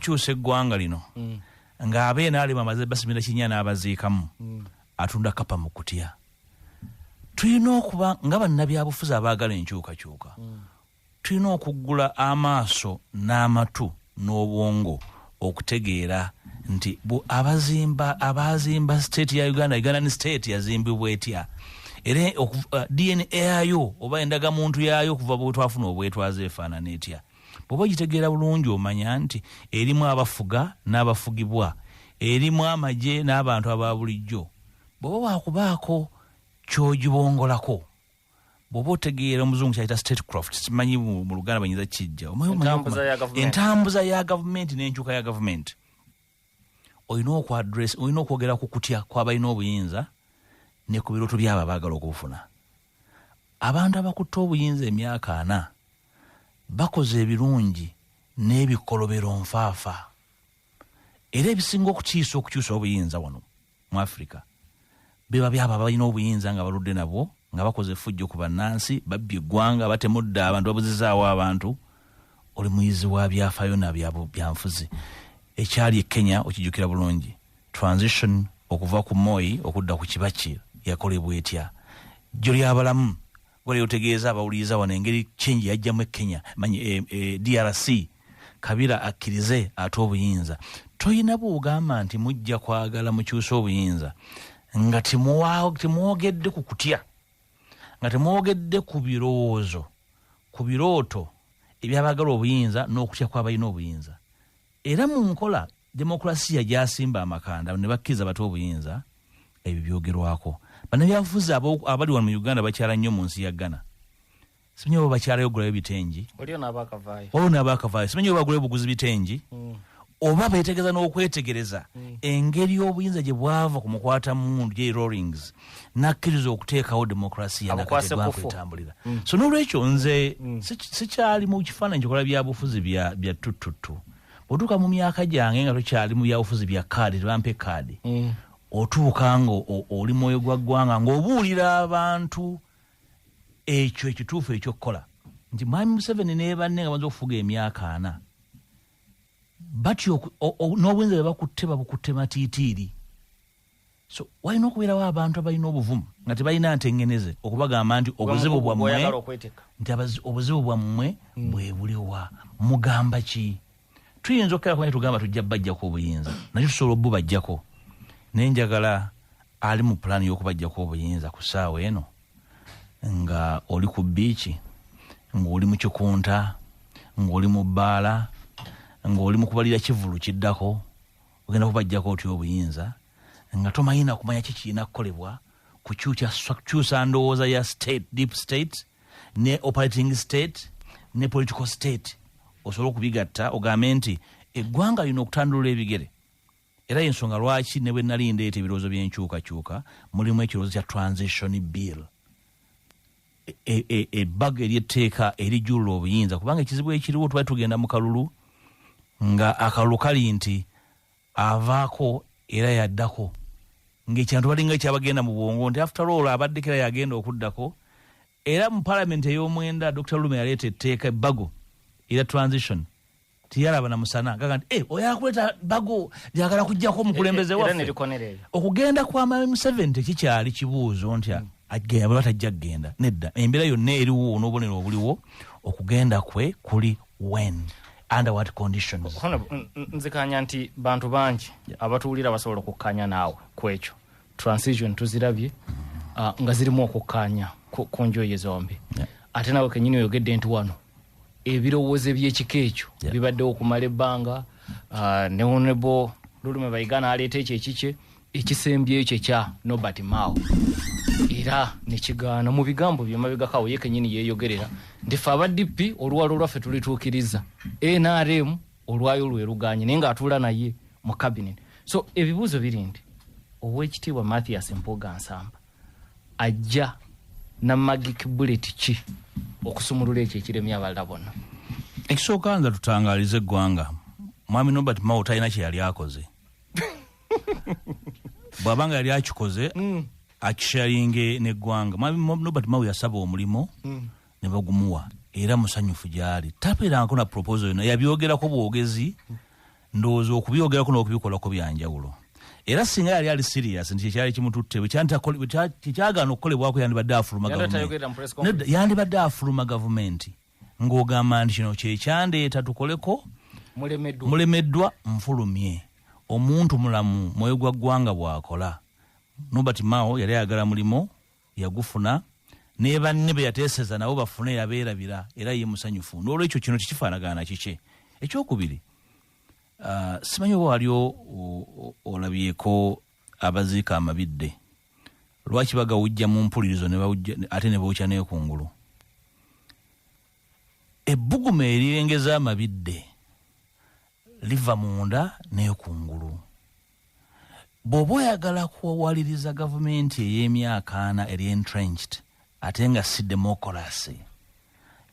kyusa eggwanga lino mm. nga abe nalema amaze basimira kinya n'abaziikamu mm. atunda kapa mu kutya tulina okuba nga bannabyabufuzi abaagala enkyukakyuka mm. tulina okuggula amaaso n'amatu n'obwongo okutegeera nti abazimba abaazimba state ya uganda uganda ni state yazimbibwa etya era uh, dna yayo oba endagamuntu yayo okuva bwetwafuna obwetwaza efaanana etya bwoba ogitegeera bulungi omanya nti erimu abafuga n'abafugibwa erimu amagye n'abantu aba bulijjo bwoba wakubaako kyogibongolako bwoba otegeera omuzungu kyayita statecraft simanyi mu luganda banyinza kijja entambuza ya gavumenti n'enkyuka ya gavumenti olina okwadress olina okwogera ku kutya kwabalina obuyinza ne ku birooto byabo abaagala okubufuna abantu abakutte obuyinza emyaka ana bakoze ebirungi n'ebikolobero nfaafa era ebisinga okukyusa okukyusa obuyinza wano mu afirika beba byabo abalina obuyinza nga baludde nabwo nga bakoze efujjo ku bannansi babbye eggwanga batemudde abantu babuzizaawo abantu oli muyizi wa byafaayo nabyanfuzi ekyali e kenya okijukira bulungi transition okuva ku moi okudda ku kibaki yakolebwa etya jjo lyabalamu gwali otegeeza abawuliriza wano engeri change yajjamu e kenya manyi e, e, drc kabira akkirize ate obuyinza toyina bwogamba nti mujja kwagala mukyusa obuyinza nga temwogedde ku kutya nga temwogedde ku birowoozo ku birooto ebyabagala obuyinza n'okutya kwabalina obuyinza era mu nkola demokulasiya gyasimba amakanda ne bakkiriza bate obuyinza ebyo byogerwako banabyabufuzi abali wano mu uganda bakyala nnyo mu nsi ya ghana simanyi oba bakyalayo ogulayo bitengi waliwo nabaakavaayo simanyi oba bagulayo buguzi bitengi mm. oba betegeza n'okwetegereza mm. engeri obuyinza gye bwava ku mukwata mundu j rollings nakkiriza okuteekawo demokrasiya nakategwakwetambulira mm. so n'olwekyo nze sikyali mu kifaananyi kikola byabufuzi bya tuttuttu bwotuuka mu myaka gyange nga tokyali mu byabufuzi bya kaadi tebampa ekaadi mm. otuuka nga oli mwoyo gwa ggwanga ng'obuulira abantu ekyo ekituufu ekyokukola nti mwami museveni nebanne nga banza okufuga emyaka ana batyo n'obwenzi bebakutte babukutte matiitiiri so walina okubeerawo abantu abalina obuvumu nga tebalina ntengeneze okubagamba nti obuzibu bwammwe nti obuzibu bwammwe hmm. bwebuliwa mugamba ki tuyinza okukerakune tugamba tujja bajjako obuyinza nakyo tusobola obubajjako naye njagala ali mu pulaani y'okubajjako obuyinza ku ssaawa eno nga oli ku biiki ng'oli mu kikunta ng'oli mu bbaala ng'oli mu kubalira kivulu kiddako ogenda kubajjako otya obuyinza nga tomanyi nakumanya ki kirina kukolebwa kukyusa ndowooza ya state deep state ne operating state ne political state osobola okubigatta ogambe nti eggwanga lino okutandulula ebigere era yensonga lwaki ne bwe nali ndeeta ebirowoozo by'enkyukakyuka mulimu ekirowoozo kya transition bill e, e, ebbago eryetteeka erijulula obuyinza kubanga ekizibu ekiriwo tubali tugenda mu kalulu nga akalulu kali nti avaako era yaddako ngaekyantu balinga ekyabagenda mu bwongo nti afterall abaddeko era yagenda okuddako era mu palamenti ey'omwenda dr lume yaleeta etteeka ebbago era transition tiyalaba na musana gaga nti eh, oyo akuleta bago lyagala kujjako omukulembeze eh, eh, waffe okugenda kwa mami museveni tekikyali kibuuzo nti hmm. agenda bweba tajja kugenda nedda embeera yonna eriwo n'obonero obuliwo okugenda kwe kuli wen under what conditions nzikanya nti bantu bangi abatuwulira basobola okukkanya naawe ku ekyo transition tuzirabye ah, nga zirimu okukkaanya ku njoye zombi ate naawe kenyini oyogedde nti wano ebirowoozo ebyekika ekyo yeah. bibaddewo okumala ebbanga uh, ne onebo lulume baigana aleeta ekyo ekikye ekisembye ekyo ekya nobert mao era nekigaana mu bigambo byemabegakawo ye kenyini yeyogerera nti fe aba dp oluwalo lwaffe tulituukiriza nrm olwayo lweruganye naye ngaatuula naye mu kabinet so ebibuuzo biri nti owekitiibwa mathias mpuga nsamba ajja na magic bullet ki okusumulula ekyo ekiremye abalala bona ekisooka nza tutangalize eggwanga mwami nobert mao talina kyeyali akoze bwaba nga yali akikoze mm. akisharinge neggwanga mwami nobert mao yasaba omulimu mm. ne bagumuwa era musanyufu gyali tabeerangako na proposal yona yabyogerako bwogezi mm. ndowooza okubyogerako n'okubikolako byanjawulo era singa yali ali sirias nti kyekyali kimututte kyekyagaana okukolebwako yandibadde afuluma yandibadde afuluma gavumenti ng'ogamba nti kino kyekyandeeta tukoleko mulemeddwa nfulumye omuntu mulamu mwoyo gwa ggwanga bwakola nobert mao yali ayagala mulimu yagufuna nebanne beyateseza nabo bafune yabeerabira era ye musanyufu nolwekyo kino tekifaanagana kikye ekyokubiri uh, simanyi oba wali olabyeko abaziika amabidde lwaki bagawujja mu mpulirizo ate ne bookya nekungulu ebbuguma erirengeza amabidde liva munda nekungulu bw'oba oyagala kuwaliriza gavumenti ey'emyaka ana eri entrenched ate nga si demokolasi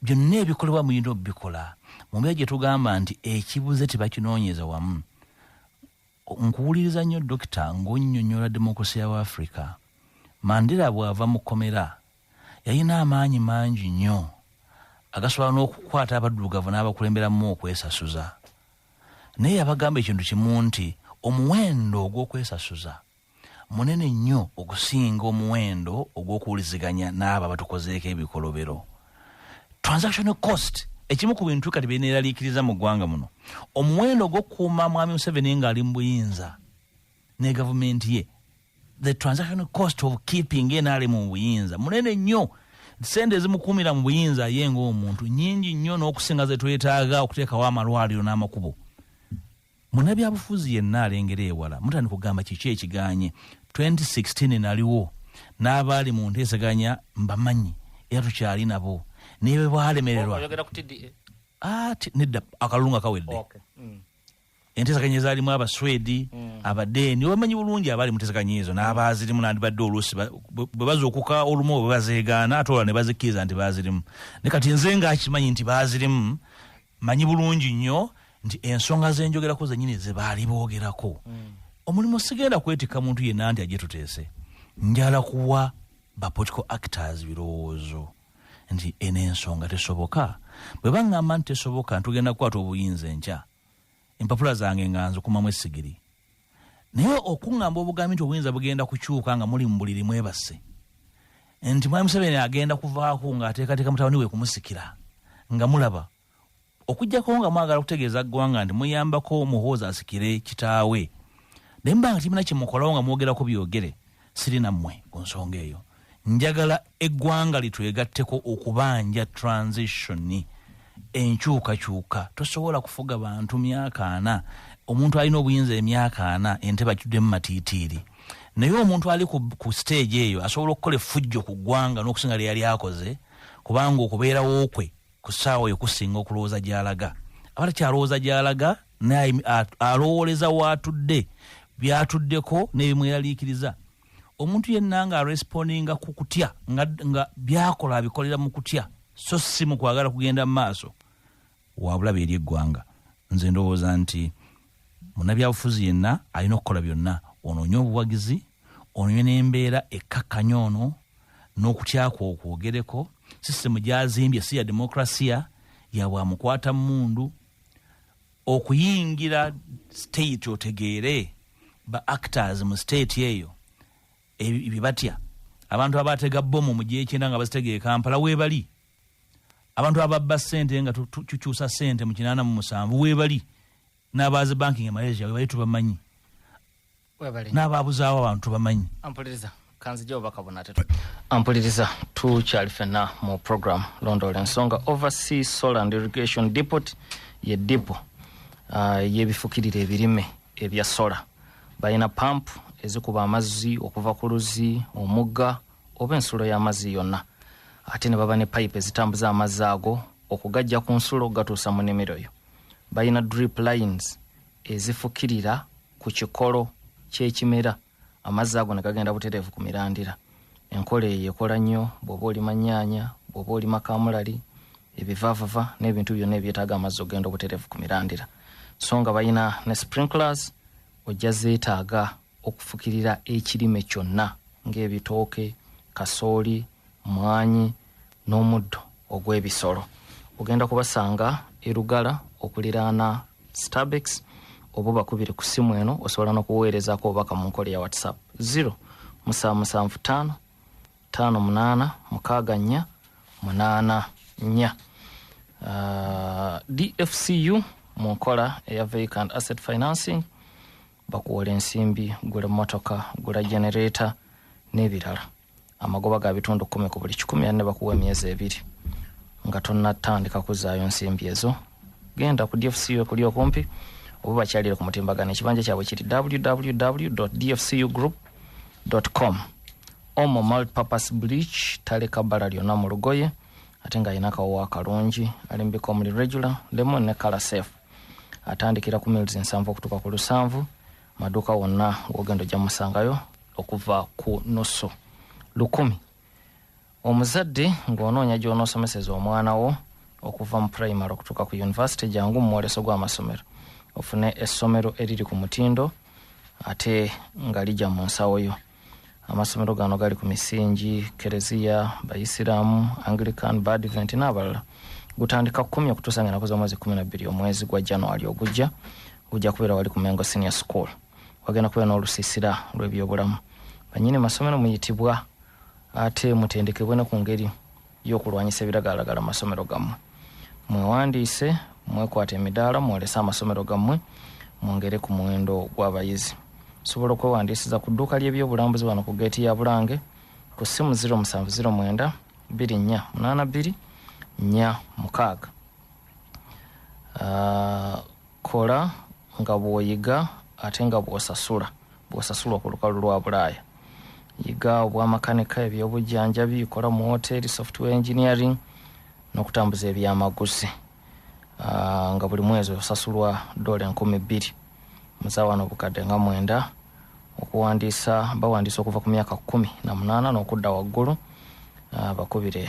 byonna ebikolebwa mulina obikola mumbeera gye tugamba nti ekibuze tebakinoonyeza wamu nkuwuliriza nnyo dokita ng'onyonyola demokolasi ya africa mandera bw'ava mu kkomera yalina amaanyi mangi nnyo agasobola n'okukwata abaddugavu n'abakulemberamu okwesasuza naye yabagamba ekintu kimu nti omuwendo ogw'okwesasuza munene nnyo okusinga omuwendo ogw'okuwuliziganya n'abo abatukozeeko ebikolobero transaction cost ekimu ku bintu kati byeneraliikiriza mu ggwanga muno omuwendo ogw'okukuuma mwami museveni ng'ali mu buyinza ne gavumenti ye the transaction cost of keeping nrm mu buyinza munene nnyo sente ezimukuumira mu buyinza aye ngaomuntu nyingi nnyo n'okusinga zetwetaaga okuteekawo amalwaliro n'amakubo munabyabufuzi yenna alengera ewala mutandika okugamba kiki ekiganye 2016 naliwo n'abaali mu nteeseganya mbamanyi era tukyali nabo naye bwe bwalemererwa nedda akalulu nga kawedde mm. entesaganya ezaalimu abaswedi mm. abadeeni obamanyi bulungi abaali mutesaganya ezo n'abaazirimu nandibadde oluusi bwe bazuukuka olumu bwe bazeegaana ate olwa ne bazikkiriza nti baazirimu ne kati nze nga akimanyi nti baazirimu manyi bulungi nnyo nti ensonga zenjogerako zenyini zebaali boogerako mm. omulimu sigenda kwetikka muntu yenna nti aje tuteese njala kuwa bapolitical actors birowoozo mm. nti eno ensonga tesoboka bwe baŋŋamba nti tesoboka ntugenda kukwata obuyinza enkya empapula zange nga nzikumamu essigiri naye okuŋŋamba obugambi nti obuyinza bugenda kukyuka nga muli mu buliri mwebasse nti mwami museveni agenda kuvaako ng'ateekateeka mutabani we kumusikira nga mulaba okujjako nga mwagala okutegeeza ggwanga nti muyambako muhoozi asikire kitaawe naye muba nga kimina kyemukolawo nga mwogerako byogere siri nammwe ku nsonga eyo njagala eggwanga litwegatteko okubanja transitioni enkyukakyuka tosobola kufuga bantu myaka ana omuntu alina obuyinza emyaka ana entebe akiddemu matiitiiri naye omuntu ali ku siteegi eyo asobola okukola effujjo ku ggwanga n'okusinga lyeyali akoze kubanga okubeerawo kwe ku ssaawa oyo kusinga okulowooza gy'alaga aba takyalowooza gy'alaga naye alowooleza waatudde byatuddeko n'ebimweraliikiriza omuntu yenna nga arespondinga ku kutya nga byakola abikolera mu kutya so si mu kwagala kugenda mu maaso wabulabe eri eggwanga nze ndowooza nti munabyabufuzi yenna alina okukola byonna onoonye obuwagizi onywe n'embeera ekkakkanya ono n'okutyakwa okwogereko sisitemu gyazimbye si ya demokrasiya yabwamukwata mundu okuyingira state otegeere ba actors mu state eyo ebibatya abantu abatega bomu mugyekyenda nga bazitega ekampala webali abantu ababba sente nga tukyusa sente mu kinana mu musanvu webali n'abaazi banking e malaysia webali tubamanyi n'abaabuzaawo abantu bamanyi ampuliriza kanzija obubaka buna te ampuliriza tukyali fenna mu program londoola ensonga oversea solar and irrigation depot ye dipo uh, eyebifukirira ebirime ebya sola balina pampu ezikuba amazzi okuva ku luzzi omugga oba ensulo y'amazzi yonna ate ne baba ne payipu ezitambuza amazzi ago okugajja ku nsulo okugatuusa mu nimiro yo balina drip lines ezifukirira ku kikolo ky'ekimera amazzi ago ne gagenda butereevu ku mirandira enkola eyo ekola nnyo bw'oba olima nnyaanya bw'oba olima kaamulali ebivaavava n'ebintu byonna ebyetaaga amazzi okugenda obutereevu ku mirandira so nga balina ne sprinklers ojja zeetaaga okufukirira ekirime kyonna ng'ebitooke kasooli mwanyi n'omuddo ogw'ebisolo ogenda kubasanga erugala okuliraana starbex oba obakubire ku ssimu eno osobola n'okuweerezaako obubaka mu nkola ya whatsapp 0 musanvu musanvu ttaano ttaano munaana mukaaga nnya munaana nnya uh, dfcu mu nkola eya vacant asset financing bakuwola ensimbi gula emmotoka gula genereeta n'ebirala amagoba ga bitundu kumi ku buli kikumi anne bakuwa emyezi ebiri nga tonnatandika kuzaayo nsimbi ezo genda ku dfcu ekuli okumpi oba bakyalire ku mutimbagano ekibanja kyabwe kiri www dfcu group com omo multipurpose bleach taleka bbala lyonna mu lugoye ate ng'alina akawowa akalungi alimbika omuli regular lemon ne kala safe atandikira ku mills nsanvu okutuuka ku lusanvu maduuka wonna wogenda ojja musangayo okuva ku nusu lukumi omuzadde ng'onoonya gy'onoosomeseza omwana wo okuva mu primary okutuuka ku univesity jangu mu mwoleso gw'amasomero ofune essomero eriri ku mutindo ate nga ligya mu nsawo yo amasomero gano gali ku misingi kereziya bayisiraamu anglican badvent n'abalala gutandika kumi okutuusa nga enaku z'omwezi kumi nabbiri omwezi gwa january ogujja gujja kubeera wali ku mengo senior school wagenda kubeera n'olusiisira lw'ebyobulamu banyini masomero muyitibwa ate mutendekebwe ne ku ngeri y'okulwanyisa ebiragalalagala mu masomero gammwe mwewandiise mwekwata emidaala mwolese amasomero gammwe mwongere ku muwendo gw'abayizi osobola okwewandiisiza ku dduuka ly'ebyobulambuzi wano ku geeti ya bulange ku ssimu 0709 24 82 46 kola nga bw'oyiga ate nga bw'osasula bw'osasulwa ku lukalu lwa bulaaya yiga obwamakanika ebyobujjanjabi kola mu woteeri software engineering n'okutambuza ebyamaguzi ah, nga buli mwezi osasulwa doola enkumi bbiri muzawano obukadde nga mwenda okuwandiisa bawandiisa okuva ku myaka kumi na munaana n'okudda waggulu ah, bakubire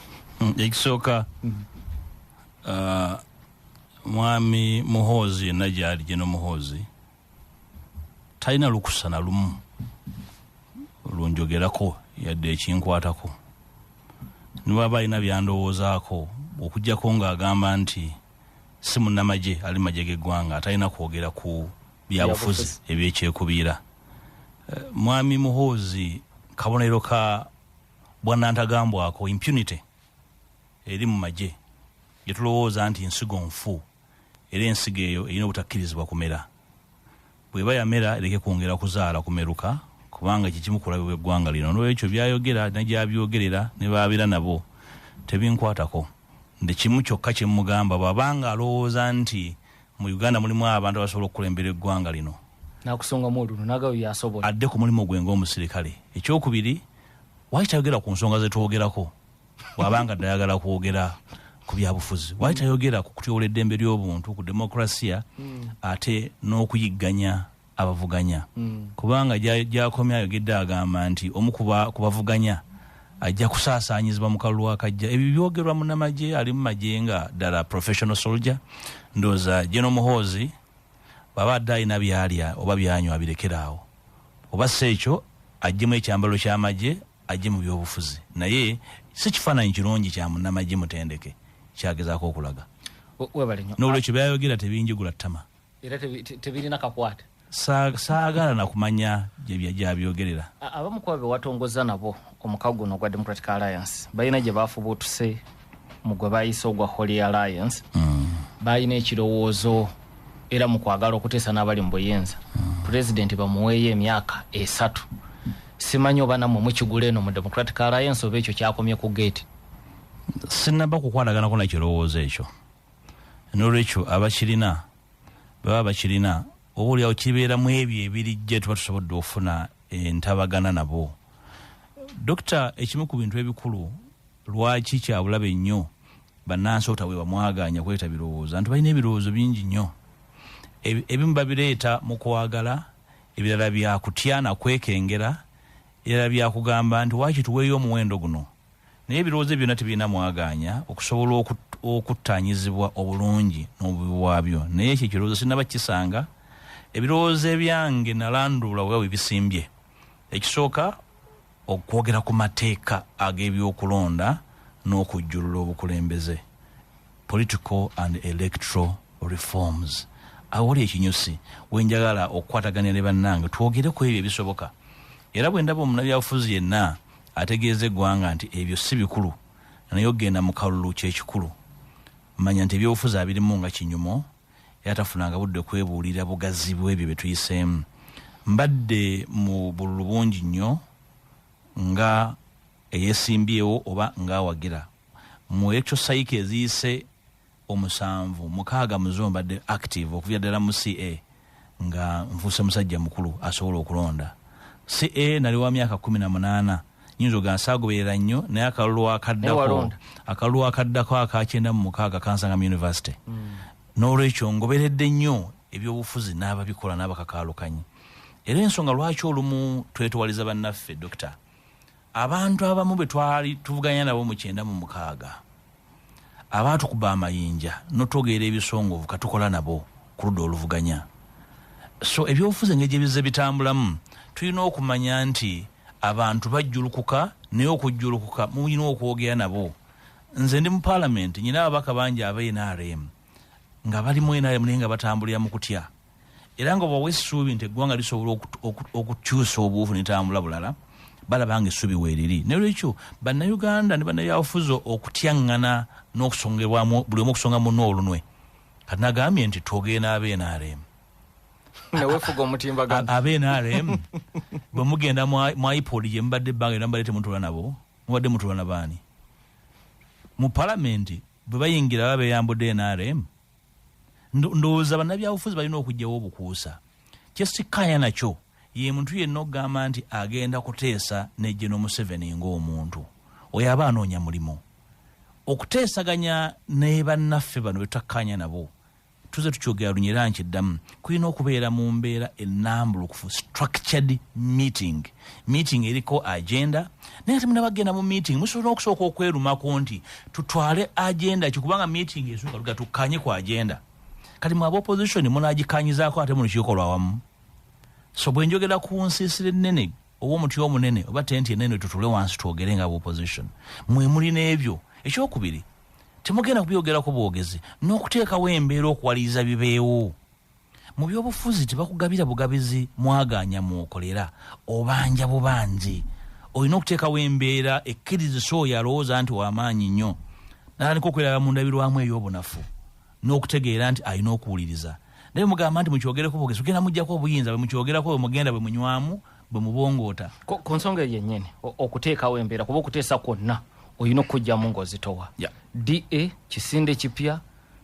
Mm, ekisooka mm. uh, mwami muhoozi yenna gyali geno muhoozi talina lukusa na lumu lunjogerako yadde ekinkwatako nibwaba alina byandowoozaako okugjako ng'agamba nti si munnamagye ali magye g'eggwanga atalina kwogera ku byabufuzi ebyekyekubiira eh, mwami muhoozi kabonero ka bwanantagambwako impunity eri mu magye gyetulowooza nti nsigo nfu era ensigo eyo erina obutakkirizibwa kumera bweba yamera ereke kwongera kuzaala kumeruka kubanga kyekimu kulabe bweggwanga lino nolwekyo byayogera nagyabyogerera nebabeera nabo tebinkwatako nti kimu kyokka kyemugamba bwabanga alowooza nti mu uganda mulimu abantu abasobola okukulembera eggwanga lino nakusongamu olulu nagayo yasobola adde ku mulimu gwe ngaomusirikale ekyokubiri waki tayogera ku nsonga zetwogerako wabanga dayagala kwogera ku byabufuzi waki tayogera ku kutyobola eddembe ly'obuntu ku demokrasiya hmm. ate n'okuyigganya abavuganya kubanga gya- gyakomye ayogedde agamba nti omu ku ba- ku bavuganya ajja kusaasaanyizibwa mu kalulu akajja ebyo byogerwa munamagye ali mu magye nga ddala professional soldier ndowooza geno muhoozi bwaba adde alina byalya oba byanywa abirekere awo oba si ekyo ajjemu ekyambalo ky'amagye ajje mu byobufuzi naye si kifaananyi kirungi kya munamagye mutendeke kyagezaako okulaga O- webale nnyo n'olwekyo byayogera tebinjigula ttama era tebirina kakwata saagala nakumanya gyabyogerera abamu kuba bewatongoza nabo omukago guno ogwa democratic alliance balina gye bafubuutuse mu gwe bayise ogwa holy alliance mm. balina ekirowoozo era mu kwagala okuteesa n'abali mu buyinza mm. pulezidenti bamuweeyo emyaka esatu simanyi oba namwe mukigula eno mu democratic alliance oba ekyo kyakomye ku geeti sinaba kukwanaganako nakirowoozo ekyo nolwekyo abakirina baba bakirina oba oliawo kibeera mu ebyo ebirijja tuba tusobodde okufuna entabagana nabo dokita ekimu ku bintu ebikulu lwaki kyabulabe nnyo bannansi otawe bamwaganya kweta birowooza nti balina ebirowoozo bingi nnyo ebimu babireeta mu kwagala ebirala byakutya nakwekengera ebirala byakugamba nti wakituweeyo omuwendo guno naye ebirowoozo byonna tebirina mwagaanya okusobola okuttaanyizibwa obulungi n'obubi bwabyo naye ekyo ekirowoozo sinaba kisanga ebirowoozo ebyange nalanduula oba webisimbye ekisooka okwogera ku mateeka ag'ebyokulonda n'okujjulula obukulembeze political and electoral reforms awali ekinyusi wenjagala okukwataganira ne bannange twogere ku ebyo ebisoboka era bwe ndaba omunabyabufuzi yenna ategeeza eggwanga nti ebyo si bikulu naye okugenda mu kalulu kyekikulu manya nti ebyobufuzi abirimu nga kinyumo era tafunanga budde kwebuulira bugazi bwebyo bye tuyiseemu mbadde mu bululu bungi nnyo nga eyesimbyewo oba ngaawagira mu ekyo sayika eziyise omusanvu mukaaga muzo mbadde active okuvira ddala mu ca nga nfuuse musajja mukulu asobola okulonda ca nali wa myaka kumi na munaana nyinza oga nsaagoberera nnyo naye akalulu akaddako akalulu akaddako akakyenda mu mukaaga kansanga mu univesity mm. n'olwekyo ngoberedde nnyo ebyobufuzi n'ababikola n'abakakaalukanyi era ensonga lwaki olumu twetowaliza bannaffe dokita abantu abamu bwe twali tuvuganya nabo mu kyenda mu mukaaga abaatukuba amayinja notogeera ebisongovu katukola nabo ku ludda oluvuganya so ebyobufuzi engeri gyebizze bitambulamu tulina okumanya nti abantu bajjulukuka naye okujjulukuka mulina okwogera nabo nze ndi mu paalamenti nyina ababaka bangi aba nrm nga bali mu nrm naye nga batambulira mu kutya era nga bawa essuubi nti eggwanga lisobola okukyusa obuufu netambula bulala balaba nga essuubi weeriri nolwekyo bannayuganda ne bannabyabufuzi okutyaŋŋana n'okusongerwamu buli omu okusonga munna olunwe kati nagambye nti twogenda aba nrm newefuga omutimbagano aba nrm bwe mugenda mu ipod gye mubadde ebbanga era mubadde temutula nabo mubadde mutula na baani mu palamenti bwe bayingira baba beyambudde nrm ndowooza bannabyabufuzi balina okugyawo obukuusa kyesikkaanya nakyo ye muntu yenna okugamba nti agenda kuteesa nejje nomuseveni ngaomuntu oyo aba anoonya mulimu okuteesaganya nebannaffe bano betutakkaanya nabo tuze tukyogera lunyera nkiddamu kulina okubeera mu mbeera enambulukufu structured meeting meeting eriko agenda naye ate munabagenda mu meeting musobola okusooka okwerumako nti tutwale agenda ki kubanga meeting esuka luga tukkanye ku agenda kati mu aba opposition munagikanyizaako ate mulukiiko lwawamu so bwe njogera ku nsiisira ennene oba omuti omunene oba tenti enene tutule wansi twogere nga opposition mwe muli n'ebyo ekyokubiri temugenda kubyogerako bwogezi n'okuteekawo embeera okuwaliriza bibeewo mu byobufuzi tebakugabira bugabizi mwagaanya mwokolera obanja bubangi olina okuteekawo embeera ekkirizisa oyo alowooza nti wamaanyi nnyo natandika okweraba mu ndabirwamu ey'obunafu n'okutegeera nti alina okuwuliriza naye mugamba nti mukyogereko bwogezi kugenda mujjako obuyinza bwe mukyogerako bwe mugenda bwe munywamu bwe mubongoota ku nsonga eyo yennyini okuteekawo embeera kuba okuteesa kwonna olina okukugyamu ng'ozitowa da kisinde kipya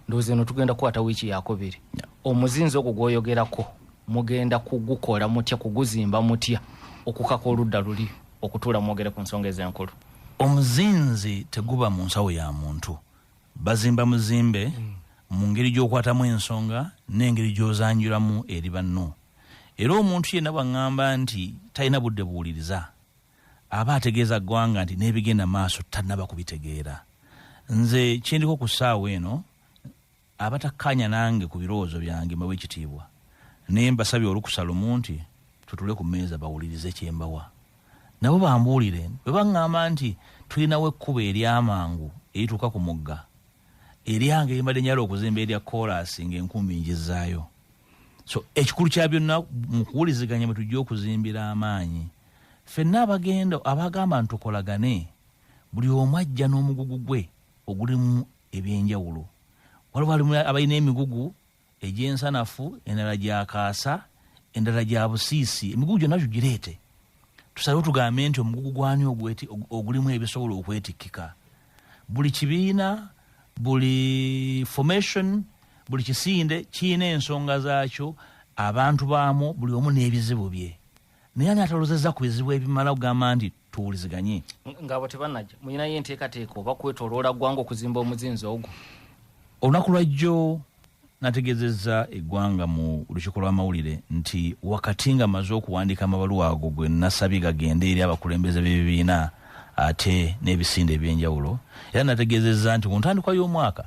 ndowooza eno tugenda kukwata wiiki yakubiri omuzinzi ogwo gwoyogerako mugenda kugukola mutya kuguzimba mutya okukaka oludda luli okutuula mwogere ku nsonga ezenkulu omuzinzi teguba mu nsawo ya muntu bazimba muzimbe mm. mu ngeri gyokwatamu ensonga n'engeri gyozanjulamu eri banno era omuntu yenna bwaŋŋamba nti talina budde buwuliriza aba ategeeza ggwanga nti n'ebigenda maaso tannaba kubitegeera. Nze kye ndiko ku ssaawa eno, abatakkaanya nange ku birowoozo byange mbawa ekitiibwa naye mbasabye olukusa lumu nti tutule ku mmeeza bawulirize kye mbawa nabo bambuulire bwe baŋŋamba nti tulinawo ekkubo ery'amangu erituuka ku mugga eryange limbadde nyala okuzimba erya koolaasi ng'enkumbi njizzaayo so ekikulu kya byonna mu kuwuliziganya mwe tujja okuzimbira amaanyi fenna abagenda abagamba nti tukolagane buli omu ajja n'omugugu gwe ogulimu ebyenjawulo waliwo alimu abalina emigugu egyensanafu endala gyakaasa endala gya busiisi emigugu gyonna tugireete tusalewo tugambe nti omugugu gwani ogulimu ebisobola okwetikkika buli kibiina buli formation buli kisinde kirina ensonga zaakyo abantu baamu buli omu n'ebizibu bye naye ani atalozeza ku bizibu ebimala kugamba nti tuwuliziganye ngaabo tebanaja mulinayo enteekateeka oba kwetoloola ggwanga okuzimba omuzinzi ogwo olunaku lwajjo nategezezza eggwanga mu lukiiko lw'amawulire nti wakati nga maze okuwandiika amabaluwa ago gwe nasabye gagende eri abakulembeze b'ebibiina ate n'ebisinde eby'enjawulo era nategezezza nti ku ntandikwa y'omwaka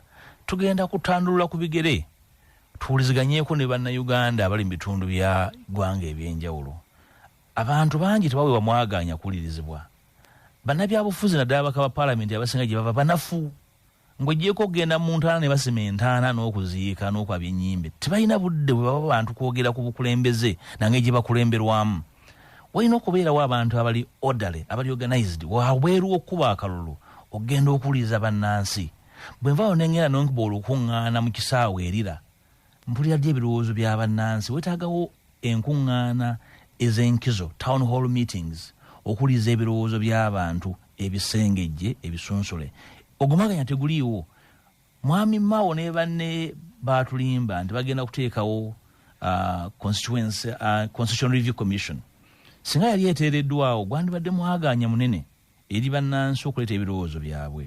tugenda kutandulula ku bigere tuwuliziganyeeko ne bannayuganda abali mu bitundu bya ggwanga eby'enjawulo abantu bangi tebaweebwa mwagaanya kuwulirizibwa bannabyabufuzi naddala baka ba paalamenti abasinga gye bava banafu Ng'oggyeeko okugenda mu ntaana ne basima entaana n'okuziika n'okwabya ennyimbe, tebalina budde bwe baba bantu kwogera ku bukulembeze na ngeri gye bakulemberwamu. Walina okubeerawo abantu abali orderly, abali organised wabweru w'okukuba akalulu okugenda okuwuliriza bannansi. Bwe nvaawo ne ng'enda n'okuba olukuŋŋaana mu kisaawe e Lira, mpulira ddi ebirowoozo bya bannansi wetaagawo enkuŋŋaana ez'enkizo town hall meetings okuwuliriza ebirowoozo by'abantu ebisengejje ebisunsule ogumaganya teguliiwo mwami mao ne banne baatulimba nti bagenda kuteekawo uh, constitution uh, review commission singa yali eteereddwawo gwandibadde mwagaanya munene eri bannansi okuleeta ebirowoozo byabwe.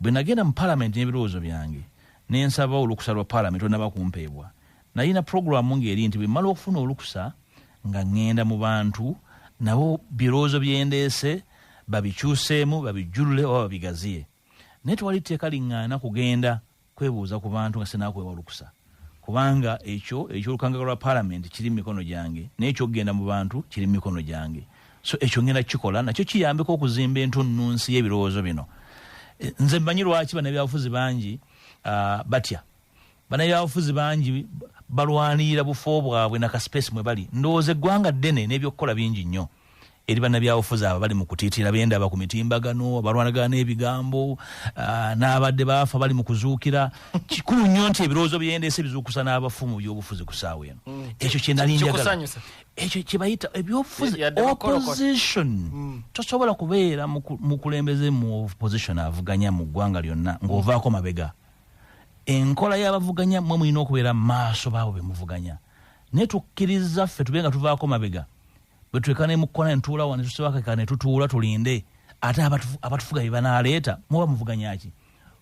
Bwe nagenda mu Palamenti n'ebirowoozo byange ne nsaba olukusa lwa Palamenti olunnaba kumpeebwa, nalina pulogulaamu ng'eri nti bwe mmala okufuna olukusa nga ng'enda mu bantu nabo birowoozo bye ndeese babikyuseemu, babijjulule oba babigaziye. Naye tewali tteeka ling'aana kugenda. kwebuuza ku bantu nga sinakwewa lukusa kubanga ekyo ekyolukangaga lwa palamenti kiri mu mikono gyange naye ekyokugenda mu bantu kiri mu mikono gyange so ekyo ngenda kukikola nakyo kiyambeko okuzimba entunnunsi y'ebirowoozo bino eh, nze mmanyi lwaki banabyabufuzi bangi ah, batya banabyabufuzi bangi balwanirira bufo bwabwe nakasipesi mwe bali ndowooza eggwanga ddene n'ebyokukola bingi nnyo eri bannabyabufuzi abo bali mu kutiitira bendaba ku mitimbagano abalwanagana n'ebigambo ah, n'abadde baafa bali mu kuzuukira kikulu nnyo nti ebirowoozo byendeese bizuukusa n'abafu mu byobufuzi ku saawa eno mm. ekyo kyenali njagala ekyo kyebayita ebyobufuzi opposition mm. tosobola kubeera mukulembeze mu opposition avuganya mu ggwanga lyonna ng'ovaako mabega enkola y'abavuganya mwe mulina okubeera maaso baabo bemuvuganya naye tukkiriza ffe tube nga tuvaako mabega bwetuleka nemukukola netuula wa netusibakeka netutuula tulinde ate abatufuga bebanaleeta muba muvuganyaki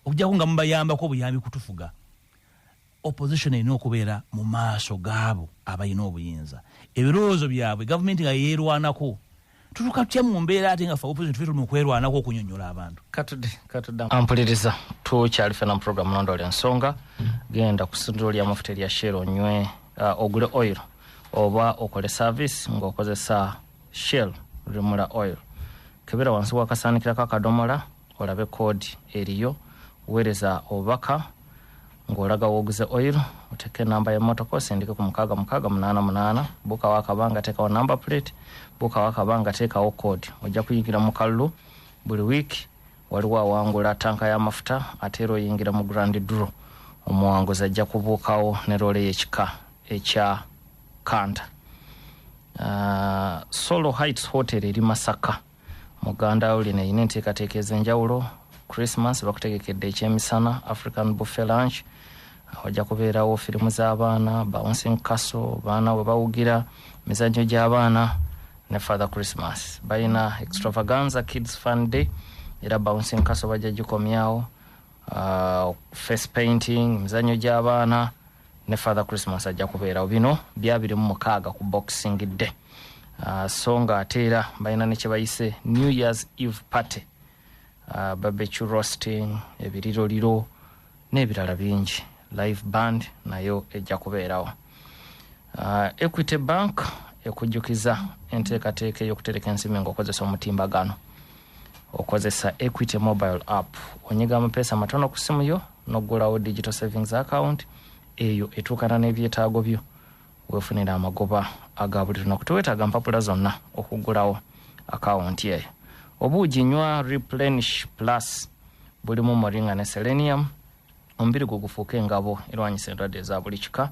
okujako nga mubayambako obuyambi kutufuga opposition erina okubeera mu maaso gaabo abalina obuyinza ebirowoozo byabwe gavumenti nga yeerwanako tutuka tutya mu mbeera ate nga fe opposition tufe tuli mukwerwanako okunyonyola abantu ampuliriza tukyali fena mu programu nondola ensonga genda ku sundiro lya mafuta erya shero onywe uh, ogule oiro oba okole service ng'okozesa shell remula oil kebera wansi wakasaanikirako akadomola olabe koodi eriyo weereza obubaka ng'olaga wooguze oil oteeka enamba y'emmotoka osindike ku mukaaga mukaaga munaana munaana buukawo akabanga teekawo number plate buukawo akabanga teekawo koodi ojja kuyingira mu kalulu buli wiiki waliwo awangula tanka y'amafuta ate era oyingira mu grand dro omuwanguzi ajja kubuukawo ne loole y'ekika ekya kanta uh, solo heights hotel eri masaka muganda wo lino erina enteekateeka ez'enjawulo christmas bakutegekedde ekyemisana african buffe lunch wajja kubeerawo firimu z'abaana bouncing castle baana we bawugira mizannyo gy'abaana ne father christmas balina extravaganza kids fun day era bouncing castle bajja gikomyawo uh, face painting mizanyo gyabaana ne father christmas ajja kubeerawo bino byabiri mu mukaaga ku boxing day uh, so nga ate era balina nekyebayise new years eve party uh, babecu rosting ebiriroliro n'ebirala bingi live band nayo ejja kubeerawo uh, equity bank ekujjukiza enteekateeka ey'okutereka ensimbi ngaokozesa omutimbagano okozesa equity mobile app onyiga amapeesa amatono ku simu yo noggulawo digital savings account eyo etuukana n'ebyetaago byo wefunira amagoba aga buli lunaku tewetaaga mpapula zonna okuggulawo akawunti eyo obuugi nywa replenish plus bulimu moringa ne selenium omubiri gwo gufuuka engabo erwanyisa endwadde eza buli kika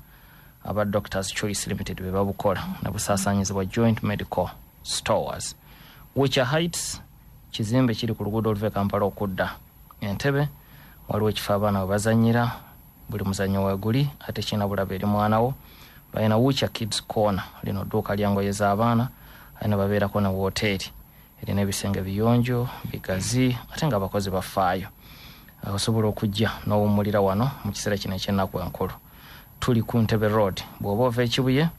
aba doctors choice limited be babukola ne busaasaanyizibwa joint medical stores wicha heights kizimbe kiri ku luguudo oluva e kampala okudda entebe waliwo ekifo abaana we bazanyira buli muzanyo weguli ate kirina bulaba eri mwanawo balina wicha kids corner lino dduuka lyangoye z'abaana alina babeerako ne wooteeri erina ebisenge biyonjo bigazi ate nga abakozi bafaayo osobola okujja n'owummulira wano mu kiseera kino ekyennaku enkulu tuli ku ntebe road bw'oba ova ekibuye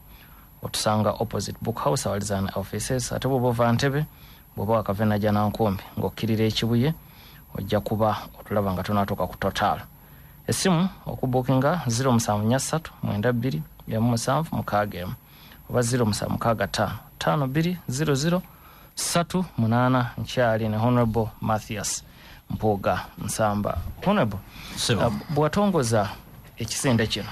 otusanga opposite book house awalizan offices ate bw'oba ova ntebe bw'oba wakavena janankumbi ng'okkirira ekibuye ojja kuba otulaba nga tunaatuuka ku total essimu okubukinga 07 3 9 2 7 7 6 oba 0 musa mukaaga ttaano ttaano bbiri 00 satu munaana nkyali ne honorable mathias mpuuga nsamba honorable uh, bwatongoza ekisinde kino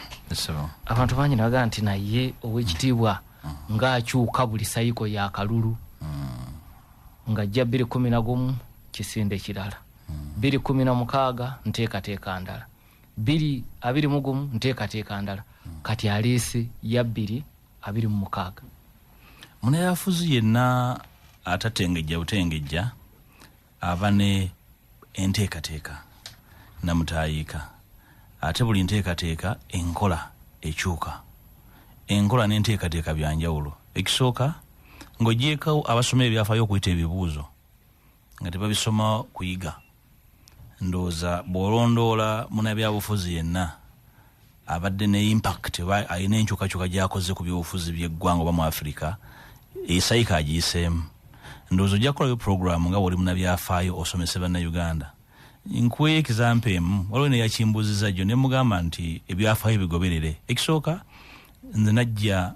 abantu bangi nabagaa nti naye owekitiibwa mm. ngaakyuka buli sayiko ya kalulu mm. ngajja bbiri kumi na gumu kisinde kirala mm. bbiri kumi na mukaaga nteekateeka ndala biri abiri mu gumu nteekateeka ndala kati aleese ya bbiri abiri mu mukaaga munayafuzi yenna atatengejja butengejja aba ne enteekateeka namutaayiika ate buli nteekateeka enkola ekyuka enkola n'enteekateeka byanjawulo ekisooka ng'ogyeko abasoma ebyafaayo okuyita ebibuuzo nga tebabisoma kuyiga ndowooza bw'olondoola munabyabufuzi yenna abadde ne impact oba alina enkyukakyuka gyakoze ku byobufuzi byeggwanga oba mu afirika esayika agiyiseemu ndowooza ojja kukolayo puroguramu nga bwoli munabyafaayo osomese bannayuganda nkuweyo ekizampa emu waliwo neyakimbuuziza jjo ne mugamba nti ebyafaayo bigoberere ekisooka nze najja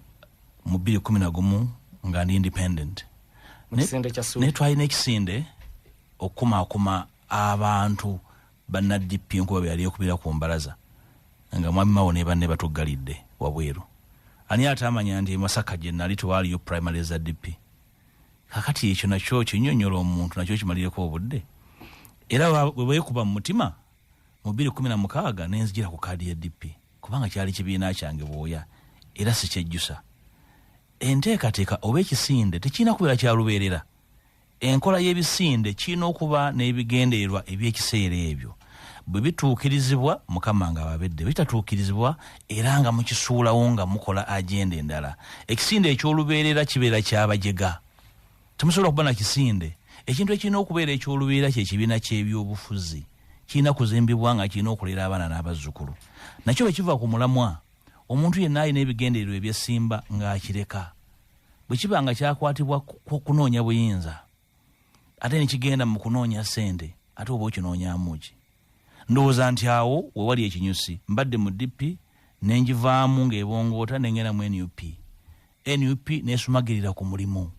mu bbiri kumi na gumu nga ndi independent naye twalina ekisinde okukumaakuma abantu banadp nkuba beyali ekubira ku mbalaza nga mwami mawo ne banne batuggalidde wabweru ani ate amanya nti masaka gye nali tewaaliyo primary za dp kakati ekyo nakyo kinyonyola omuntu nakyo kimalireko obudde era webwekuba mu mutima mu biri kumi na mukaaga nenzijira ku kaadi ya dp kubanga kyali kibiina kyange bwoya era sikyejjusa enteekateeka oba ekisinde tekirina kubeera kyalubeerera Enkola y'ebisinde kirina okuba n'ebigendererwa eby'ekiseera ebyo bwe bituukirizibwa mukama nga ababedde bitatuukirizibwa era nga mukisuulawo nga mukola agenda endala ekisinde eky'olubeerera kibeera kyabajega temusobola kuba na kisinde ekintu ekirina okubeera eky'olubeerera kyekibiina ky'ebyobufuzi kirina kuzimbibwa nga kirina okulera abaana n'abazzukulu nakyo bwe kiva ku mulamwa omuntu yenna alina ebigendererwa ebyesimba ng'akireka bwe kiba nga kyakwatibwa kunoonya buyinza ate nekigenda mu kunoonya sente ate oba okinoonyamuki ndowooza nti awo wewali ekinyusi mbadde mu dp nenjivaamu ngaebongoota nengenda mu nup nup nesumagirira ku mulimu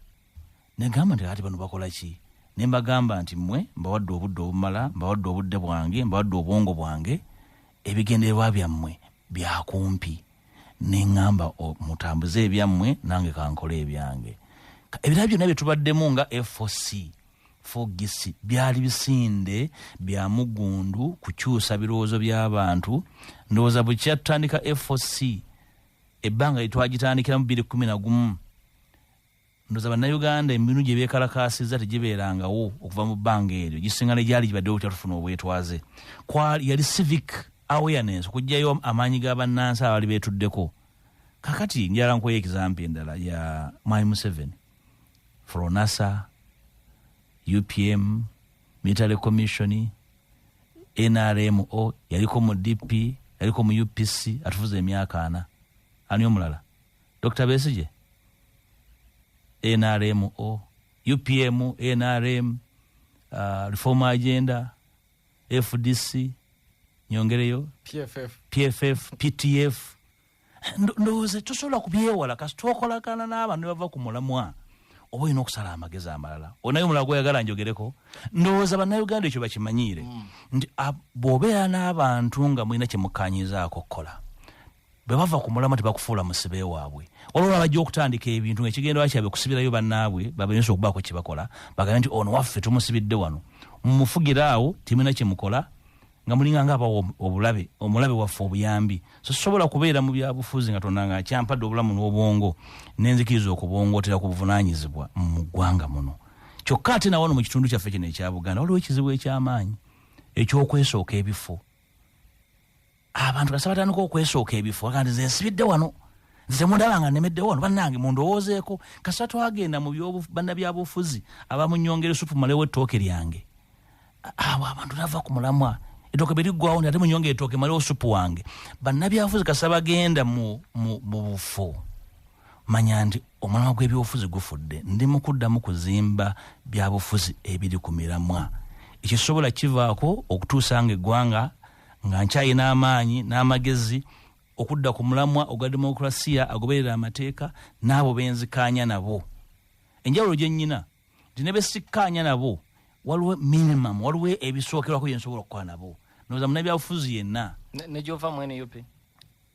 negamba nti ati bano bakola ki nembagamba nti mwe mbawadde obudde obumala mbawadde obudde bwange mbawadde obwongo bwange ebigendererwa byammwe byakumpi neŋŋamba mutambuze ebyammwe nange kankole ebyange ebirala byonna bye tubaddemu nga foc fogisi byali bisinde bya mugundu kukyusa birowoozo by'abantu ndowooza bwe kyatutandika foc ebbanga lyetwagitandikiramu biri kumi na gumu ndoza bannayuganda emibinu gye beekalakaasizza tegibeerangawo okuva mu bbanga eryo gisinga ne gyali gibaddewo butya tufuna obwetwaze yali civic awareness okugyayo amaanyi ga bannansi abaali beetuddeko kakati njala nkuwayo ekizampi endala ya my museveni fronasa upm military commission nrmo yaliko mu dp yaliko mu upc atufuza emyaka ana ani omulala dr besigye nrm o upm nrm uh, reform agenda fdc nyongereyo pff, PFF ptf Ndo- ndowooza tosobola kubyewala kasi twokolagana n'abantu ne bava ku mulamwa oba olina okusala amagezi amalala onaye omulala gweyagala njogereko ndowooza bannayuganda ekyo bakimanyiire nti ab- bw'obeera n'abantu nga mulina kye mukkaanyizaako okukola bwe bava ku mulama tebakufuula musibe waabwe waliwo babajja okutandika ebintu nga ekigenderwa kyabwe kusibirayo bannaabwe babayinza okubaako kye bakola bagambe nti ono waffe tumusibidde wano mumufugira awo temina kye mukola nga mulinga nga abawa obulabe omulabe waffe obuyambi so sisobola kubeera mu byabufuzi nga tonda nga akyampadde obulamu n'obwongo nenzikiriza okubongootera ku buvunaanyizibwa mu ggwanga muno kyokka ate nawano mu kitundu kyaffe kino ekya buganda waliwo ekizibu eky'amaanyi eky'okwesooka ebifo abantu kasaba tandika okwesooka ebifo aga nti zensibidde wano nze mundaba nga nemedde wano bannange mundowoozeeko kasita twagenda mu banna byabufuzi abamunyongere supu malewo ettooke lyange awo abantu nava ku mulamwa etooke beriggwawo nti ate munyonge etooke malewo supu wange bannabyabufuzi kasita bagenda mu bufo manya nti omulamwa gw'ebyobufuzi gufudde ndi mu kuddamu kuzimba byabufuzi ebiri ku miramwa ekisobola kivaako okutuusa nga eggwanga nga nkyalina amaanyi n'amagezi okudda ku mulamwa ogwa demokulasiya agoberera amateeka n'abo benzikaanya nabo enjawulo gye nnyina nti ne besikkaanya nabo waliwo minimum waliwo ebisookerwako bye nsobola okukola nabo noza munabyabufuzi yenna negyova mu nup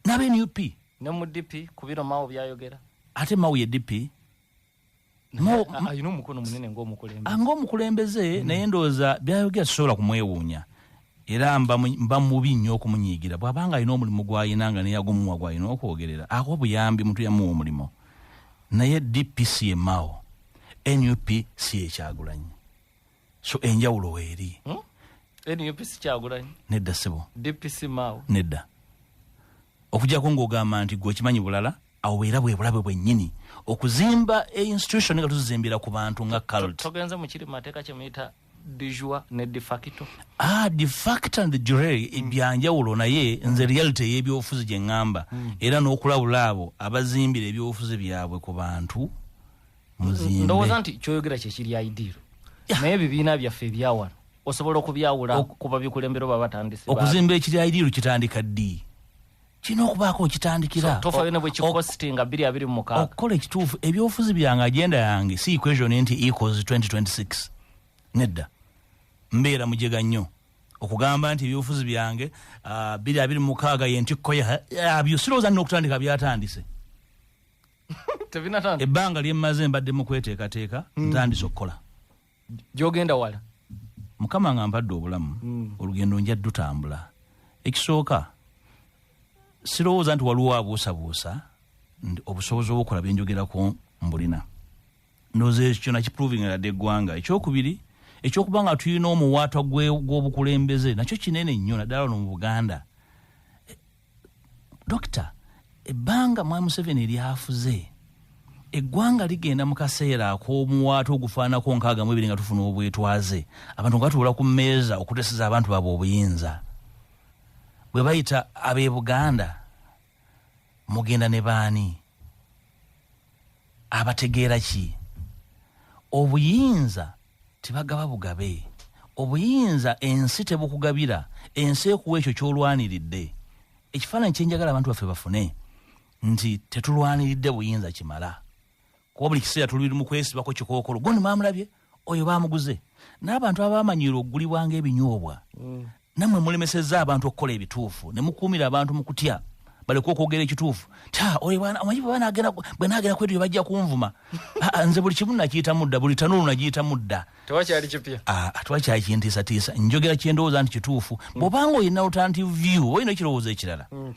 naba nup ne mu dp kubiro mawo byayogera ate mawo ye dp alina omukono munene ngaomukulembeze ah, ngaomukulembeze hmm. naye ndowooza byayogera sisobola kumwewuunya era mba mubi nnyo okumunyiigira bw'aba nga alina omulimu gw'alina nga neyagumuwa gw'alina okwogerera awa obuyambi muntu yamuwa omulimu naye dpc emao nup si ekyagulanyi so enjawulo weeri hmm? nupc kyagulanyi nedda sebo dpc mao nedda okujako ngaogamba nti gwe okimanyi bulala awo bwera bwebulabe bwenyini okuzimba e institution nga tuzizimbira ku bantu nga cult togenze mukiri mateeka kyemuyita dijua ne defacto ah defacto and jure mm. ebyanjawulo naye nze reality eyebyobufuzi gye ŋŋamba mm. era n'okulabula abo abazimbira ebyobufuzi byabwe ku bantu ndowooza nti kyoyogera kyekiri idiiro naye ebibiina byaffe ebyawano osobola okubyawula kuba bikulembera oba batandise okuzimba ekiri idiiro kitandika ddi kirina okubaako okitandikira tofayo nebwekikosti nga biri abiri mumukaaga okukola ekituufu ebyobufuzi byange agenda yange si equation nti equals 2026 nedda mbeera mujega nnyo okugamba nti ebyobufuzi byange ah, biri abiri mumukaaga yentikkoya abyo sirowooza nina okutandika byatandise tebinatandika ebbanga lyemmaze mbadde mu kweteekateeka hmm. ntandise okukola gyogenda wala mukama nga mpadde obulamu hmm. olugendo nja dutambula ekisooka sirowooza nti waliwo abuusabuusa nti obusobozi obwokola byenjogerako mbulina ndoza ekyo kyona kiproving ladde eggwanga ekyokubiri ekyokuba nga tulina omuwaatwa gw'obukulembeze nakyo kinene nnyo naddala no mu buganda dokita ebbanga mwami museveni lyafuze eggwanga ligenda mu kaseera ak'omuwaatu ogufaanako nkaaga mu ebiri nga tufuna obwetwaze abantu nga batuula ku mmeeza okuteseza abantu baabwe obuyinza bwe bayita ab'e buganda mugenda ne baani abategeera ki obuyinza tebagaba bugabe obuyinza ensi tebukugabira ensi ekuwa ekyo kyolwaniridde ekifaananyi kyenjagala abantu baffe bafune nti tetulwaniridde buyinza kimala kuba buli kiseera tuli mu kwesibako kikookolo gondi mwamulabye oyo bamuguze n'abantu abamanyiira okugulibwa ng'ebinyoobwa mm. nammwe mulemesezza abantu okukola ebituufu ne mukuumira abantu mu kutya baleka okwogera ekituufu omanyi bwe nagera kwetu bajja kunvuma ah, ah, nze buli kimu nakiyita mudda buli tanuulu nagiyita mudda tewakyali kipya ah, tewakyali kintiisatiisa njogera kyendowooza nti kituufu mm. bwobanga olina lutanti view olina ekirowoozo ekirala mm,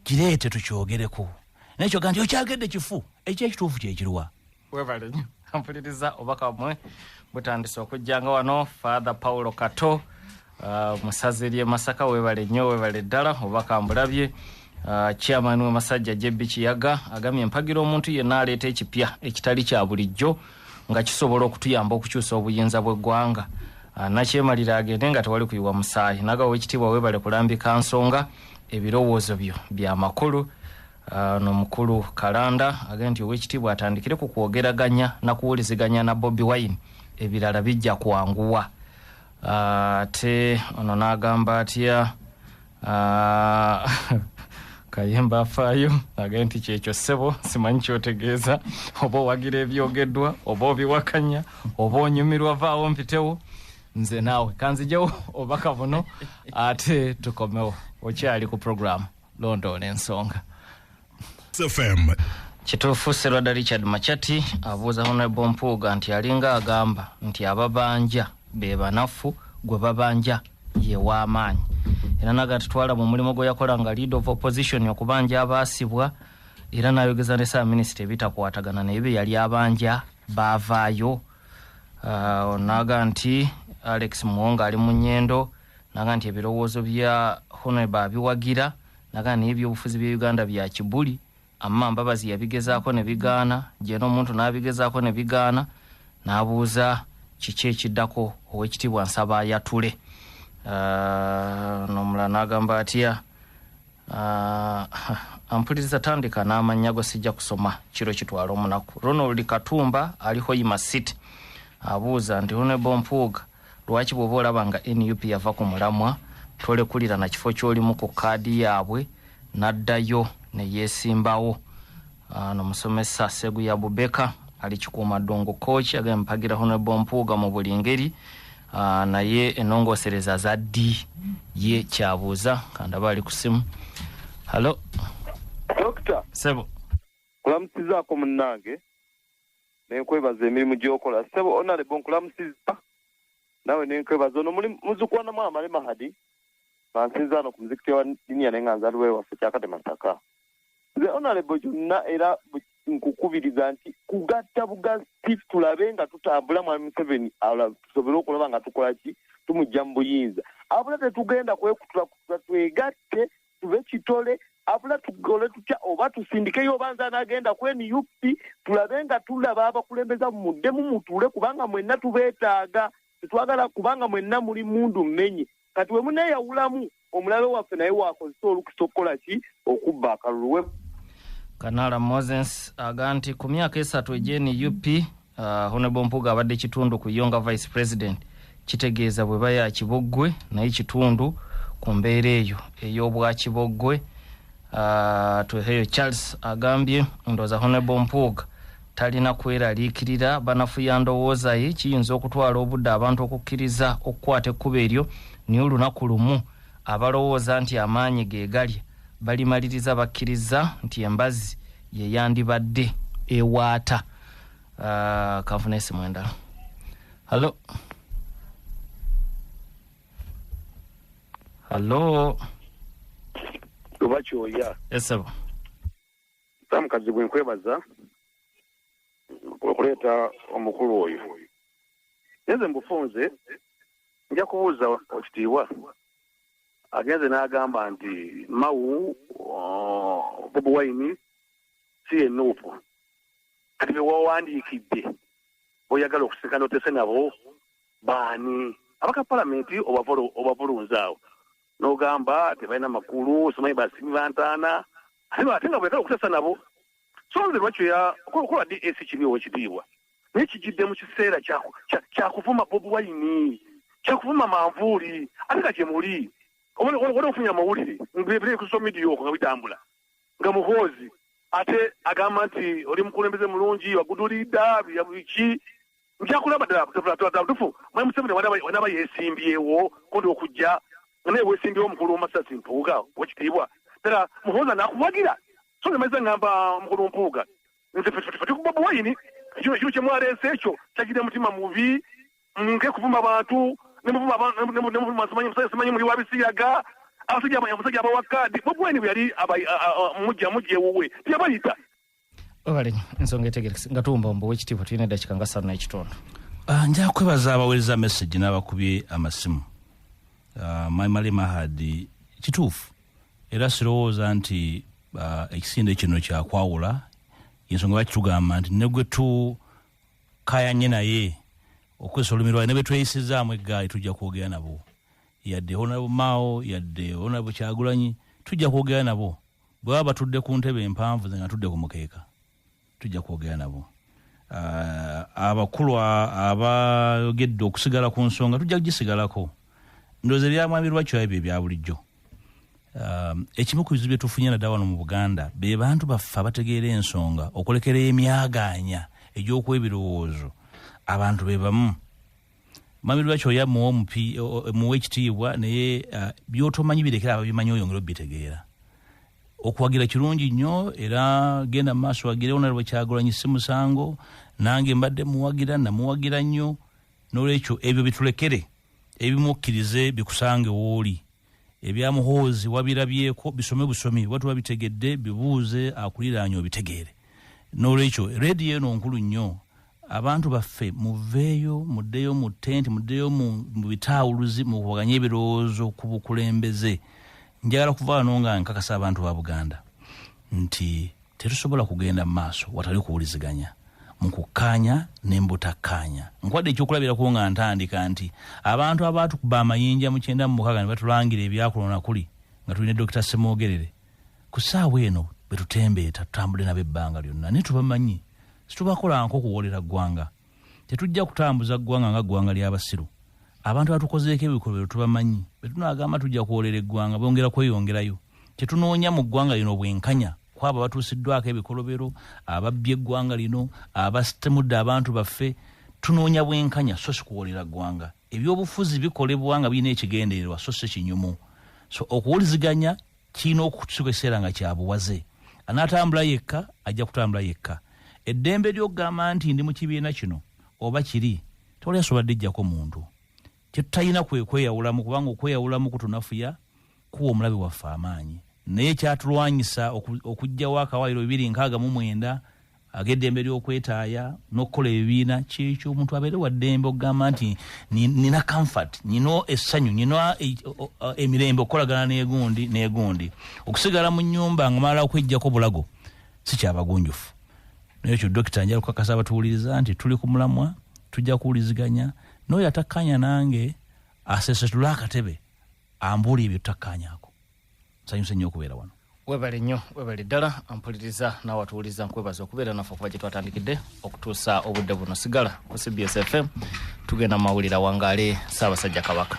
kireete tukyogereko naye kyoga nti okyagedde kifu ekyekituufu kyekiriwa webale nyo mpuliriza obubaka bumwe butandise okujja nga wano father paulo kato uh, musazi eri emasaka webale nyo webale ddala obubaka mbulabye uh, chairman wemasajja jebbi kiyaga agamye mpagira omuntu yenna aleeta ekipya ekitali kya bulijjo nga kisobola okutuyamba okukyusa obuyinza bw'eggwanga uh, nakyemalira agende nga tewali kuyiwa musaayi naga owekitiibwa webale kulambika nsonga ebirowoozo byo byamakulu Ah, no mukulu kalanda agee nti owekitiibwa atandikire ku kwogeraganya nakuwuliziganya na bobi wine ebirala bijja kwanguwa ah, ate ono nagamba atya ah, kayemba afaayo agee nti kyekyo ssebo simanyi kyotegeeza oba owagira ebyogeddwa oba obiwakanya oba onyumirwa vaawo mpitewo nze naawe kanzijewo obaka buno ate tukomewo okyali ku programu londoola ensonga FM. kituufu serwada richard machati abuuza honrable mpuuga nti alinga agamba nti ababanja be banafu gwe babanja ye w'amaanyi era naga tutwala mu mulimu gwe yakola nga lead of opposition okubanja abaasibwa era n'ayogeza ne saaminister ebitakwatagana naye bye yali abanja baavaayo Ah, onaga nti alex muwonga ali mu nyendo naga nti ebirowoozo bya honreba abiwagira naga naye ebyobufuzi bya uganda bya kibuli amma mbabazi yabigezaako ne bigaana gyena omuntu n'abigezaako ne bigaana n'abuuza kiki ekiddako owekitiibwa nsaba ayatule ah, nomula n'agamba atya ah, ampuliriza tandika n'amannya go sijja kusoma kiro kitwala omunaku ronald katumba aliho ima city abuuza nti honrebo mpuuga Lwaki bwoba olaba nga nup yava ku mulamwa tolekulira na kifo kyolimu ku kaadi yaabwe naddayo neyesimbawo? Ah, no musomesa Seguya Bubeka ali kikuuma ddungu kooki agambye mpagira Honorable Mpuuga mu buli ngeri ah, naye enongosereza za ddi ye kyabuuza kandaba ali ku simu halo dokita sebo kulamusizaako munnange nenkwebaza emirimu gyokola sebo onalebo nkulamusiza nawe nenkwebaza ono muli muzukwanamu amale mahadi mansinzaano ku muzikiti wa dinia naye nga nzaliwo ewaffe kyakate masaka nze onalebo gyonna era nkukubiriza nti kugatta bugatti tulabe nga tutambula mwami museveni tusobole okulaba nga tukola ki tumujja mu buyinza abula tetugenda kwekutula kutula twegatte tuve kitole abula tukole tutya oba tusindikeyo oba nze anagenda ku nup tulabe nga tulaba abakulembeza muddemu mutuule kubanga mwenna tubeetaaga tetwagala kubanga mwenna muli mundu mmenye kati wemuneyawulamu omulabe waffe naye wakozesa olukisa okukola ki okubba akalulu kanaala moses aga nti ku myaka esatu egyenup Uh, Honorable Mpuga abadde kitundu ku Yonga Vice President kitegeeza bwe baya kiboggwe naye kitundu ku mbeera eyo ey'obwa kiboggwe uh, tweheyo Charles agambye ndooza Honorable Mpuga talina kweraliikirira banafuya ndowooza ye kiyinza okutwala obudde abantu okukkiriza okukwata ekkuba eryo naye olunaku lumu abalowooza nti amaanyi ge galya balimaliriza bakkiriza nti embazzi ye yandibadde ewaata uh, kafuna esimu endala hallo hallo luba kyoya esebo samukazi bwe nkwebaza okuleeta omukulu oyo neze mbufunze nja kubuuza okitiibwa agenze n'agamba nti mawu uh, bobi wine si ye nuupu kati bewawandiikidde boyagala okusika notese nabo baani abaka palamenti obavulunza awo nogamba tebalina makulu simanyi basimi bantaana ate nga boyagala okutesa nabo so nze lwakyoya kola das kiri owekitiibwa naye kijidde mu kiseera kyakuvuma bobi wayini kyakuvuma manvuuli ate nga gyemuli oba ofunye amawulire ngebirekusomidiyoko nga bitambula nga muhoozi ate agamba nti oli mukulembeze mulungi wagudulidda biki njakulaba ddalabutufu mwe museveni wanaba yesimbyewo kundi okujja naye wesimbyewo mukulu womasasi mpuuga wekitiibwa ddala muhoozi anakuwagira so nemaiza ngamba mukulu mpuuga nze fetikuba buwayini ekyo kyemwaleese ekyo kyajira mutima mubi Munke kuvuma bantu ne muvuma abantu ne muvuma simanyi musajja simanyi muli wa bisiyaga abasajja abasajja abawa kaadi bwebweni bwe yali mujja mujja ewuwe teyabayita webale ensonga etegerekese nga tuwumba wumba owekitiibwa tulina eddakika nga ssatu n'ekitundu ah, nja kwebaza abaweereza message n'abakubye amasimu ah, maimali mahadi kituufu era sirowooza nti ah, ekisinde kino kyakwawula yensonga bakitugamba nti negwetu kayanye naye okozesa olulimi lwaye nebetweyisizaamu eggaali tujja kwogera nabo yadde honabu mao yadde honabu kyagulanyi tujja kwogera nabo bwebaba batudde ku ntebe empanvu ze nga tudde ku mukeeka tujja kwogera nabo uh, abakulu abayogedde okusigala ku nsonga tujja kugisigalako ndowooza ebyamwabirwa kyo ebyo ebya bulijjo um, ekimu ku bizibu byetufunye nadda wano mu buganda be bantu baffe abategeera ensonga okulekera emyagaanya egy'okuwa ebirowoozo abantu be bamu mwabirwa kyoya muwe ekitiibwa naye uh, byotomanyi birekera ababimanyi oyongere obitegeera okuwagira kirungi nnyo era genda mu maaso wagire onalibwe kyagulanyi si musango nange mbadde muwagira namuwagira nnyo nolwekyo ebyo bitulekere ebimukkirize bikusange wooli ebya muhoozi wabirabyeko bisome busomi oba tuba bitegedde bibuuze akuliraanya obitegeere nolwekyo rediyo eno nkulu nnyo abantu baffe muveeyo muddeyo mu tenti muddeyo mu bitaawuluzi mukubaganye ebirowoozo ku bukulembeze njagala kuvaano nga nkakasa abantu ba buganda nti tetusobola kugenda mu maaso watali kuwuliziganya mu kukkaanya ne mbutakkaanya nkwadde ekyokulabirako nga ntandika nti abantu abaatukuba amayinja mu kyenda mu mukaaga ne batulangira ebyakulona kuli nga tulina dokita semwogerere ku ssaawa eno betutembeeta tutambudde nabo ebbanga lyonna naye tubamanyi situbakola nko okuwoolera ggwanga tetujja kutambuza ggwanga nga ggwanga ly'abasiru abantu abatukozeeko ebikolobero tubamanyi bwe tunaagamba tujja kwolera eggwanga bongera kweyongerayo tetunoonya mu ggwanga lino bwenkanya kwabo abatuusiddwako ebikolobero ababbye eggwanga lino abasitemudde abantu baffe tunoonya bwenkanya so sikuwolera ggwanga ebyobufuzi bikolebwa nga birina ekigendererwa so si kinyumu so okuwuliziganya kirina okutuuka ekiseera nga kya buwaze anaatambula yekka ajja kutambula yekka eddembe ly'okugamba nti ndi mu kibiina kino oba kiri tewali asobola dijjako muntu kye tutalina kwe kweyawulamu kubanga okweyawulamu kutunafuya kuwa omulabe waffe amaanyi naye kyatulwanyisa okugjawo akawaayiro bibiri nkaaga mu mwenda ag'eddembe ly'okwetaaya n'okukola ebibiina kyekyo omuntu abeere wa ddembe okugamba nti nina comfort nina essanyu nina e, emirembe okukolagana negundi negundi okusigala mu nyumba nga malala okwejjako bulago si kyabagunjufu naye ekyo dokita njala okukakasa abatuwuliriza nti tuli ku mulamwa tujja kuwuliziganya n'oyo atakkaanya nange asesetule akatebe ambuuli ebyo tutakkaanyako nsanyuse nnyo okubeera wano webale nnyo webale ddala mpuliriza naawe atuwuliza nkwebaza okubeera naffe okuva gye twatandikidde okutuusa obudde buno sigala ku cbs fm tugenda mu mawulire awangaale ssaabasajja kabaka